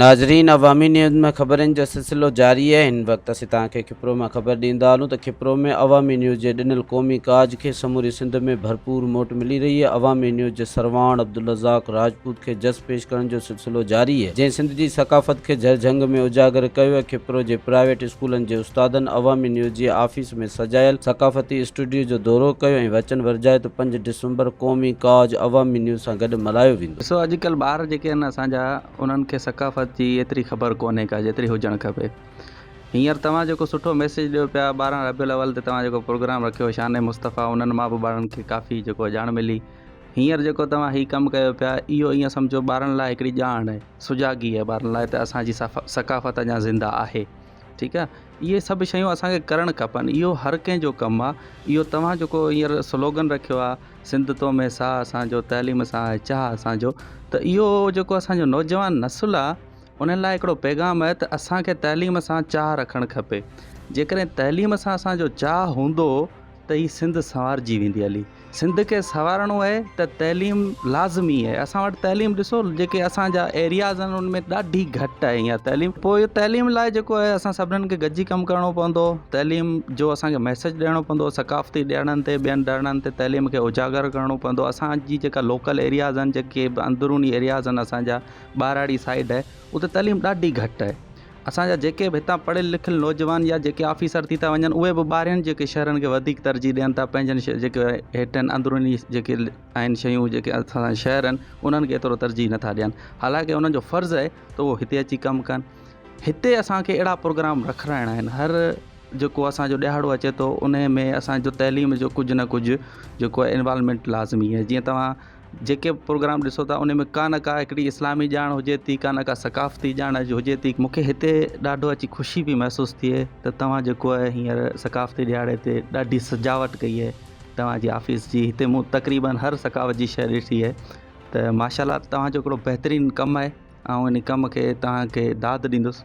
ناظرين عوامي نيوز ۾ خبرن جو سلسلو جاري آهي هن وقت اسين توهان کي کپرو مان خبر ڏيندا هلون ته کپرو ۾ عوامي نيوز جي ڏنل قومي ڪاج کي سموري سنڌ ۾ ڀرپور موٽ ملي رهي آهي عوامي نيوز جي سرواڻ عبدالرزاق راجپوت کي جس پيش ڪرڻ جو سلسلو جاري آهي جنهن سنڌ جي ثقافت کي جهر جهنگ ۾ اجاگر ڪيو آهي کپرو جي پرائيويٽ اسڪولن جي استادن عوامي نيوز جي آفيس ۾ سجايل ثقافتي اسٽوڊيو جو دورو ڪيو ۽ وچن ورجايو ته پنج ڊسمبر قومي ڪاج عوامي نيوز سان گڏ ملهايو ويندو. ڏسو اڄ ڪلهه ٻار جيڪي آهن اسان جا انهن کي ثقافت جي ايتري خبر ڪونهي ڪا جيتري هجڻ کپي هينئر توهان جيڪو سٺو ميسيج ڏيو پيا ٻارهن ربيع الاول تي توهان جيڪو پروگرام رکيو شان مصطفيٰ انهن مان به ٻارن کي ڪافي جيڪو آهي ڄاڻ ملي هينئر جيڪو توهان هي ڪم ڪيو پيا اهو ايئن سمجهو ٻارن لاء هڪڙي ڄاڻ آهي سجاڳي آهي ٻارن لاء ته اسان جي ثقافت اڃان زنده آهي ٺيڪ آ اهي سڀ شيون اسانکي ڪرڻ کپن اهو هر ڪنهن جو ڪم آ اهو توهان جيڪو هينئر سلوگن رکيو آ سنڌ تو مي ساهه اسانجو تعليم سان آهي چاهه اسانجو ته اهو جيڪو اسانجو نوجوان نسل آ انهن لاء هڪڙو پيغام آهي ته اسانکي تعليم سان چاهه رکڻ کپي جيڪڏهن تعليم سان اسانجو چاهه هوندو ته هي سنڌ سنوارجي ويندي علي سنڌ کي سنوارڻو اهي ته تعليم لازمي اهي اسان وٽ تعليم ڏسو جيڪي اسان جا ايرياز آهن ان ۾ ڏاڍي گهٽ آهي اها تعليم پوء اهي تعليم لاء جيڪو آهي اسان سڀنن کي گڏجي ڪم ڪرڻو پوندو تعليم جو اسان کي ميسج ڏيڻو پوندو ثقافتي ڏيڻن تي ٻين ڏيڻن تي تعليم کي اجاگر ڪرڻو پوندو اسان جي جيڪا لوڪل ايرياز آهن جيڪي اندروني ايرياز آهن اسان جا ٻهراڙي سائيڊ اتي تعليم ڏاڍي گهٽ آهي اسان جا جيڪي به هتان پڙهيل لکيل نوجوان يا جيڪي آفيسر ٿي ٿا وڃن اهي به ٻاهرين جيڪي شهرن کي وڌيڪ ترجيح ڏين ٿا پنهنجن شهر جيڪي هيٺين اندروني جيڪي آهن شيون جيڪي اسان جا شهر آهن انهن کي ايترو ترجيح نٿا ڏين حالانڪه انهن جو فرض آهي ته اهو هتي اچي ڪم ڪن هتي اسانکي اهڙا پروگرام رکرائڻا آهن هر جيڪو اسانجو ڏهاڙو اچي ٿو انهي ۾ اسانجو تعليم جو ڪجهه نه ڪجهه جيڪو انوالومينٽ لازمي آهي جيئن توهان جيڪي به پروگرام ڏسو ٿا ان ۾ ڪانه ڪا هڪڙي اسلامي ڄاڻ هجي ٿي ڪانه ڪا ثقافتي ڄاڻ هجي ٿي مونکي هتي ڏاڍو اچي خوشي پئي محسوس ٿئي ته توهان جيڪو آهي هينئر ثقافتي ڏهاڙي تي ڏاڍي سجاوٽ ڪئي آهي توهانجي آفيس جي هتي مون تقريبا هر ثقافت جي شيء ڏٺي آهي ته ماشاء الله توهانجو هڪڙو بهترين ڪم آهي آئون ان ڪم کي توهانکي داد ڏيندس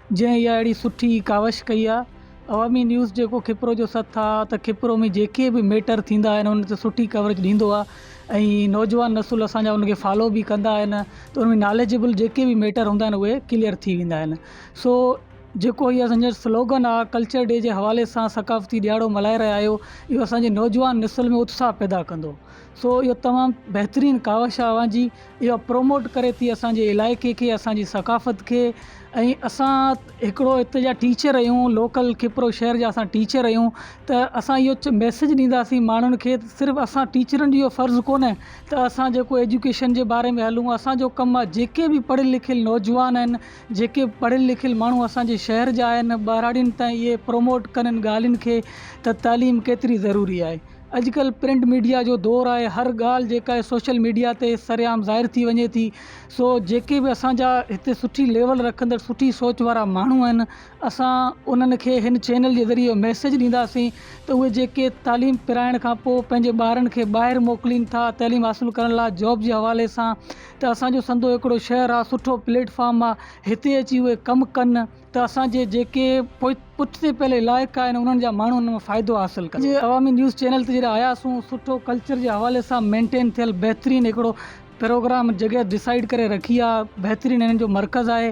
جنهن اها اهڙي سٺي ڪاوش ڪئي آهي عوامي نيوز جيڪو کپرو جو سٿ آهي ته کپرو ۾ جيڪي به ميٽر ٿيندا آهن ان تي سٺي ڪوريج ڏيندو آهي ۽ نوجوان نسل اسان جا ان کي فالو به ڪندا آهن ته ان ۾ ناليجبل جيڪي به ميٽر هوندا آهن اهي ڪليئر ٿي ويندا آهن سو جيڪو هي اسان جو سلوگن آهي ڪلچر ڊي جي حوالي سان ثقافتي ڏيهاڙو ملهائي رهيا آهيو اهو اسان جي نوجوان نسل ۾ اتساهه پيدا ڪندو سو اهو تمام بهترين ڪاوش آهي اوهان جي اهو پروموٽ ڪري ٿي اسانجي علائقي کي اسانجي ثقافت کي ۽ اسان هڪڙو هتي جا ٽيچر آهيون لوڪل کپرو شهر جا اسان ٽيچر آهيون ته اسان اهو ميسج ڏينداسين ماڻهن کي صرف اسان ٽيچرن جي اهو فرض ڪونه ته اسان جيڪو ايجوڪيشن جي باري ۾ هلون اسانجو ڪم آهي جيڪي به پڙهيل لکيل نوجوان آهن جيڪي به پڙهيل لکيل ماڻهو اسانجي شهر جا آهن ٻهراڙين تائين اهي پروموٽ ڪن ان ڳالهين کي ته تعليم ڪيتري ضروري آهي اڄڪلهه پرنٽ ميڊيا جو دور آهي هر ڳالهه جيڪا آهي سوشل ميڊيا تي سرعام ظاهر ٿي وڃي ٿي سو جيڪي به اسان جا هتي سٺي ليول رکندڙ سٺي سوچ وارا ماڻهو آهن اسان انهن کي هن چينل جي ذريعي ميسيج ڏينداسين ته اهي جيڪي تعليم پرائڻ کان پوء پنهنجي ٻارن کي ٻاهر موڪلين ٿا تعليم حاصل ڪرڻ لاء جاب جي حوالي سان ته اسان جو سنڌو هڪڙو شهر آهي سٺو پليٽ فارم آهي هتي اچي اهي ڪم ڪن ته اسان جي جيڪي پٺتي پيل علائقا آهن انهن جا ماڻهو ان مان فائدو حاصل ڪن اڄ عوامي نيوز چينل تي جڏهن آياسون سٺو ڪلچر جي حوالي سان مينٽين ٿيل بهترين هڪڙو پروگرام جڳهه ڊسائيڊ ڪري رکي آهي بهترين انهن جو مرڪز آهي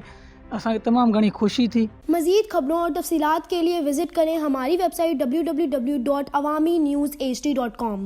اسان کي تمام گهڻي خوشي ٿي. مزيد خبرون اور تفصيلات کے ليے وزٽ ڪرين ھماري ويب سائيٽ www.awaminewsht.com.